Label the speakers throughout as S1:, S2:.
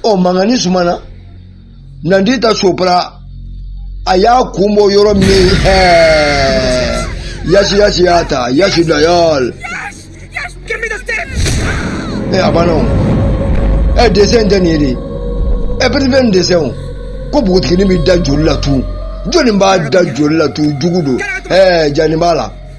S1: ɔ mankan in sumana nandita sopra a y'a kun bɔ yɔrɔ min ye ɛɛ yasi yasi y'a ta yasi dayɔl ɛ a banna o ɛ desɛn tɛ nin ye dɛ ɛ pɛtipɛ nin desɛn o ko npogotiginin bɛ da joli la tun jɔnni b'a da joli la tun jugu don ɛɛ jani b'a la.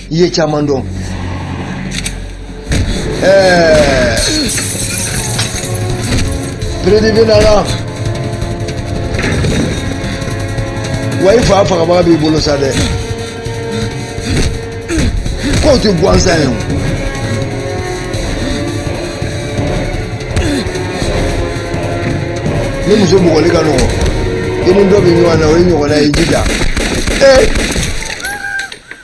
S1: i ye caman dɔn ɛɛ peredibi nana wa i fa fagabaga b'i bolo sa dɛ k'o tɛ gansan ye o ni muso bugɔli ka nɔgɔ i ni dɔ bɛ ɲɔgɔn na o ye ɲɔgɔnna ye i jija ee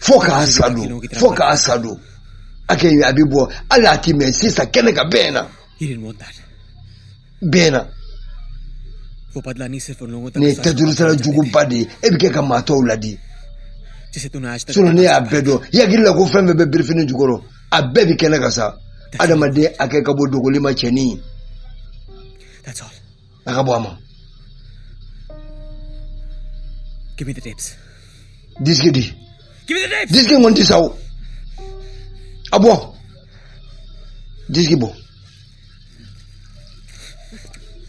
S1: fo k'a sa don fo k'a sa don hakɛ a bɛ bɔ hali a ti mɛɛn sisan kɛnɛ kan bɛɛ ɲɛna bɛɛ ɲɛna nin ye tɛduurusara juguba de ye e bɛ kɛ ka maa tɔw ladi sinɔn ne y'a bɛɛ dɔn i hakili la ko fɛn bɛɛ bɛ birifini jukɔrɔ a bɛɛ bɛ kɛnɛ kan sa adamaden hakɛ ka bon dogoli ma cɛnin ye a ka bon a ma Give me the tapes. disiki di Give me the tapes. disiki in kɔni ti sa o a bɔ disiki bɔ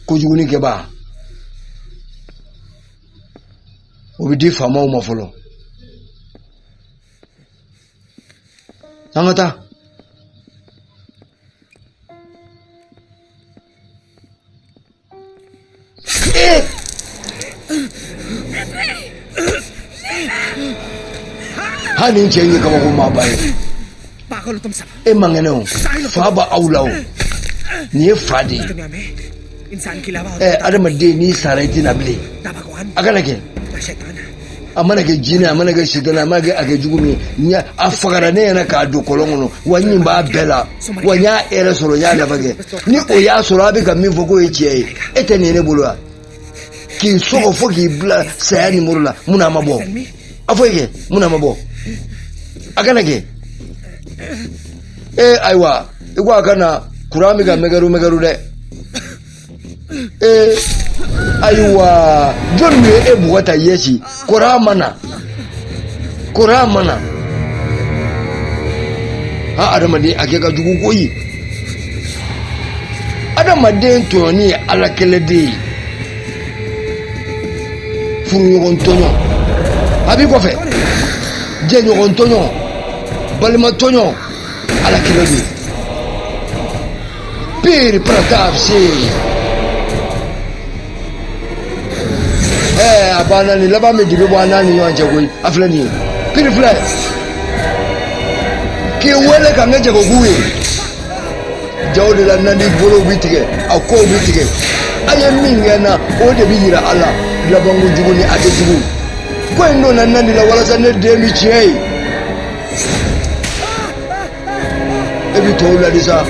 S1: kojugu nin kɛbaa o bɛ di faamaw ma fɔlɔ an ka taa ha nin cɛ in ye kabako maaba ye e man kɛnɛ o fa b'aw la o nin ye fa de ye ɛ adamaden n'i sara i tɛ na bilen a kana kɛ a mana kɛ jinɛ a mana kɛ sidɔn a mana kɛ a kɛ jugu min ye a fagara ne ɲɛna k'a don kɔlɔn kɔnɔ wa n ɲɛ b'a bɛɛ la wa n y'a hɛrɛ sɔrɔ n y'a nafa kɛ ni o y'a sɔrɔ a bɛ ka min fɔ k'o ye tiɲɛ ye e tɛ nin ye ne bolo wa k'i sɔgɔ fo k'i bila saya nimoro la mun na a ma bɔ a fɔ i kɛ mun na a ma bɔ a kana kɛ ee ayiwa i ko a ka na kuran bɛ ka mɛgɛru mɛgɛru dɛ ee ayiwa jɔni ye e bugɔ tan yɛsi kuran ma na kuran ma na ha adamaden hakɛ ka jugu koyi adamaden tɔɲɔni ye ala kɛlɛ de ye furuɲɔgɔn tɔɲɔ a b'i kɔfɛ jɛɲɔgɔn tɔɲɔ balima tɔɲɔ Ala kilo bi Bir Pratap Singh Ɛɛ a banna nin laban bɛ dibi bɔ an n'a ni ɲɔgɔn cɛ koyi a filɛ nin ye Bir filɛ k'i wele ka n kɛ jagoku ye jaw de la nandi bolow bi tigɛ a kɔw bi tigɛ a ye min kɛ n na o de bi yira a la labanko jugu ni a tɛ jugu ko in donna nandi la walasa ne den bi tiɲɛ ye e bɛ tɔw laadi sa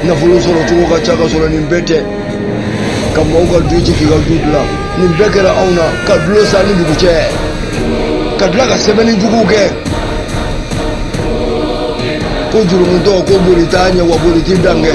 S1: nafolo sɔrɔ cogo ka ca ka sɔrɔ nin bɛɛ tɛ ka mɔgɔw ka du ci k'i ka du dilan nin bɛɛ kɛra anw na ka dulon san ni dugu cɛ ka tila ka sɛbɛnni juguw kɛ ko jurumuntɔ ko boli t'a ɲɛ wa boli t'i dan kɛ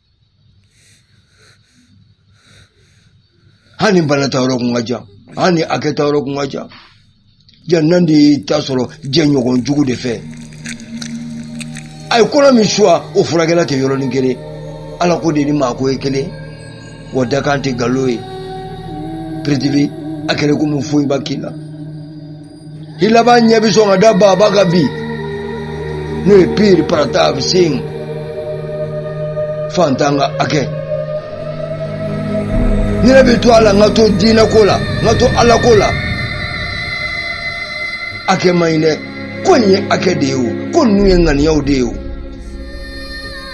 S1: hali ni bana taayɔrɔ kun ka jan hali ni hakɛ taayɔrɔ kun ka jan jan nandi y'i ta sɔrɔ jɛɲɔgɔn jugu de fɛ a ye kɔnɔ min suwa o furakɛla tɛ yɔrɔnin kelen ala ko de ni maako ye kelen wa dakan tɛ nkalon ye prithvi a kɛra komi foyi ma k'i la i laban ɲɛ bɛ sɔn ka da baaba kan bi n'o ye Bir Pratap Singh fantan ka hakɛ ne yɛrɛ bɛ to a la n ka to diinɛ ko la n ka to ala ko la hakɛ man ɲi dɛ ko nin ye hakɛ de ye o ko ninnu ye ŋaniyaw de ye o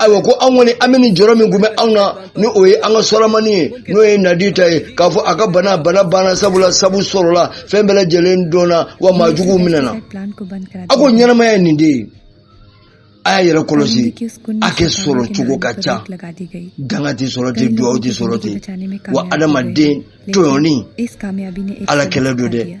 S1: ayiwa ko anw kɔni an bɛ nin jɔrɔ min kun bɛ anw na ni o ye an ka sɔrɔmani ye n'o ye nandita ye k'a fɔ a ka bana bana banna sabula sabu sɔrɔla fɛn bɛɛ lajɛlen dɔnna wa maa juguw minɛna a ko ɲɛnamaya ye nin de ye a y'a yɛrɛ kɔlɔsi hakɛ sɔrɔ cogo ka ca danga tɛ sɔrɔ ten duwawu tɛ sɔrɔ ten wa adamaden tɔɲɔni ala kɛlɛ don dɛ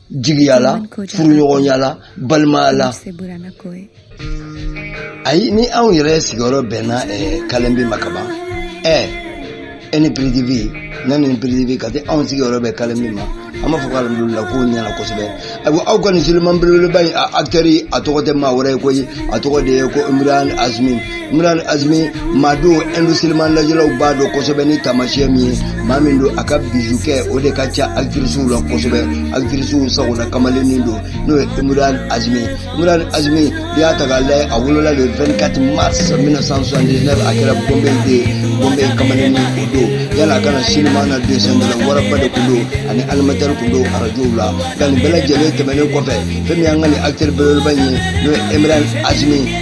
S1: jigiya la furuɲɔgɔnya la balimaya la ayi ni anw yɛrɛ sigiyɔrɔ bɛnna kalenbi ma kaban ɛ e ni piridibi ne ni piridibi ka se anw sigiyɔrɔ bɛ kalenbi ma an b'a fɔ ko alihamudulila ko ɲɛna kosɛbɛ ayiwa aw ka nin siliman belebeleba in a akitɛri a tɔgɔ tɛ maa wɛrɛ ye koyi a tɔgɔ de ye ko imran azimi Imran Azimi maa don indu siliman lajɛlaw b'a dɔn kosɛbɛ ni taamasiyɛn min ye maa min don a ka bizu kɛ o de ka ca akitirisiw la kosɛbɛ akitirisiw sagonna kamalennin don n'o ye Imran Azimi Imran Azimi n'i y'a ta k'a lajɛ a wolola le 24 mars 1979 a kɛra Bombe de Bombe kamalennin o don yanni a ka na sinima na desɛndala waraba de tun don ani animatɛri tun don arajow la nka nin bɛɛ lajɛlen tɛmɛnen kɔfɛ fɛn min y'an ka nin akitɛri belebeleba in ye n'o ye Imran Azimi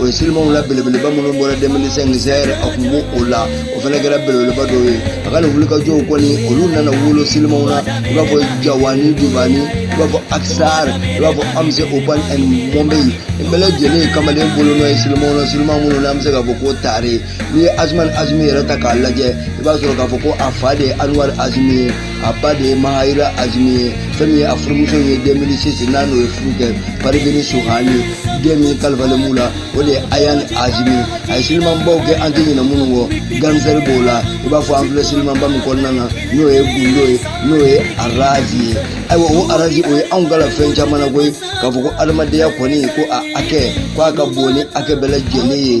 S1: o ye silimaw la belebeleba minnu bɔra 2005 zeher a kun bɛ o la o fana kɛra belebeleba dɔ ye a ka nin wulikajɔw kɔni olu nana wolo silimaw na i b'a fɔ jawani diwani i b'a fɔ aksar i b'a fɔ once upon in mumbai nin bɛɛ lajɛlen ye kamalen bolonɔ ye silimaw na silimaw minnu na an bɛ se k'a fɔ ko taare n'i ye emraan hashmi yɛrɛ ta k'a lajɛ i b'a sɔrɔ k'a fɔ ko a fa de ye anwar hashmi ye a ba de ye maherrah hashmi ye fɛn min ye a furumuso ye 2006 n'a n'o ye furu kɛ parveen shahani den min kalifalen b'u la o de ye ayaan hashmi a ye silimanbaw kɛ an tɛ ɲinɛ minnu kɔ gangster b'o la i b'a fɔ an filɛ silimanba min kɔnɔna na n'o ye gundo ye n'o ye raaz ye ayiwa o raaz o ye anw kalan fɛn caman na koyi k'a fɔ ko adamadenya kɔni ko a hakɛ ko a ka bon ni hakɛ bɛɛ lajɛlen ye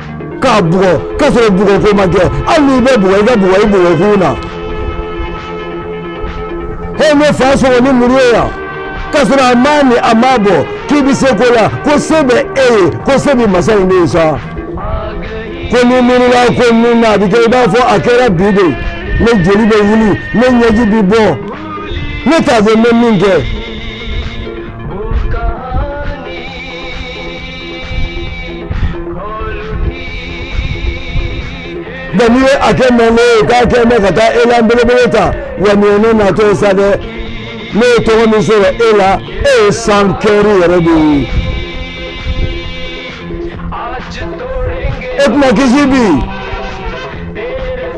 S1: k'a bugɔ k'a sɔrɔ bugɔ ko ma kɛ hali n'i bɛ bugɔ i ka bugɔ i bugɔ kun na he ne fa sɔgɔ ni muru ye yan k'a sɔrɔ a m'a ni a m'a bɔ k'i bɛ se ko la ko se bɛ e ye ko se bɛ masa in de ye sa ko ni n miirila ko min na a bɛ kɛ i b'a fɔ a kɛra bi de ne joli bɛ wuli ne ɲɛji bɛ bɔ ne t'a fɛ n bɛ min kɛ. nka n'i ye a kɛ mɛngo ye k'a kɛ mɛ ka taa elan belebele ta wa nin ye ne natɔ ye sa dɛ ne ye tɔgɔ min sɔrɔ e la e ye san kɛri yɛrɛ de ye e tɛna kisi bi